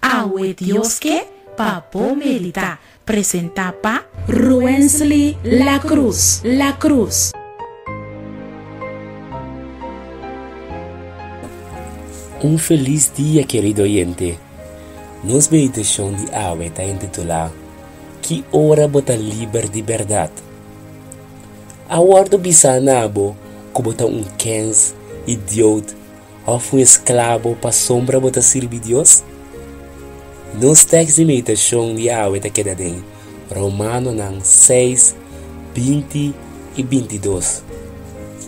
Awe Dios ke pa bo meditá, presentá pa. Ruensly Lacruz Lacruz. Un felis dia kerido oyente. Nos meditashon di awe ta intitulá Ki ora bo ta liber di bèrdat? A wòrdu bisá na abo ku bo ta un kèns, idiout, Òf un esklabo pa sombra bo ta sirbi Dios? Nos tèks di meditashon di awe ta keda den Romanonan seis binti i binti dos.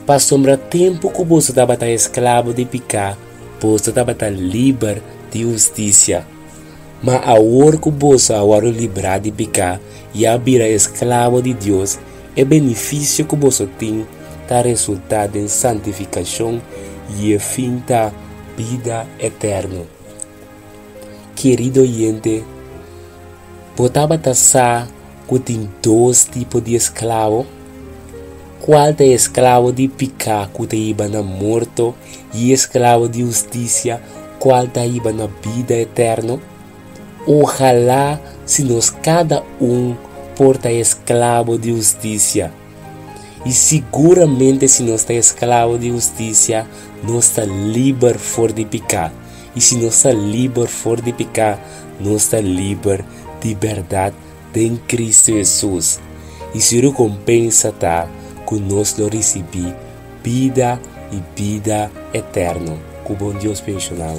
Pasobra tempu ku boso tabata esklabo di piká, boso tabata liber di hustisia. Ma awor ku boso a wòrdu librá di peká i a bira esklabo di Dios, e benefisio ku boso tin ta resultá den santifikashon i e fin ta bida eterno. Kerido yente, bo tabata sa? ku tin dos tipo di esklabo? Kual ta e esklabo di piká ku ta iba na morto i e esklabo di hustisia kual ta iba na bida eterno? Ojalá si nos kada un por ta esklabo di hustisia! I siguramente si nos ta esklabo di hustisia, nos ta liber for di piká. I si nos ta liber for di piká, nos ta liber di bèrdat. den Kristu Hesus, i su rekompensa ta ku nos lo risibí bida i bida eterno ku bon Dios penshonal.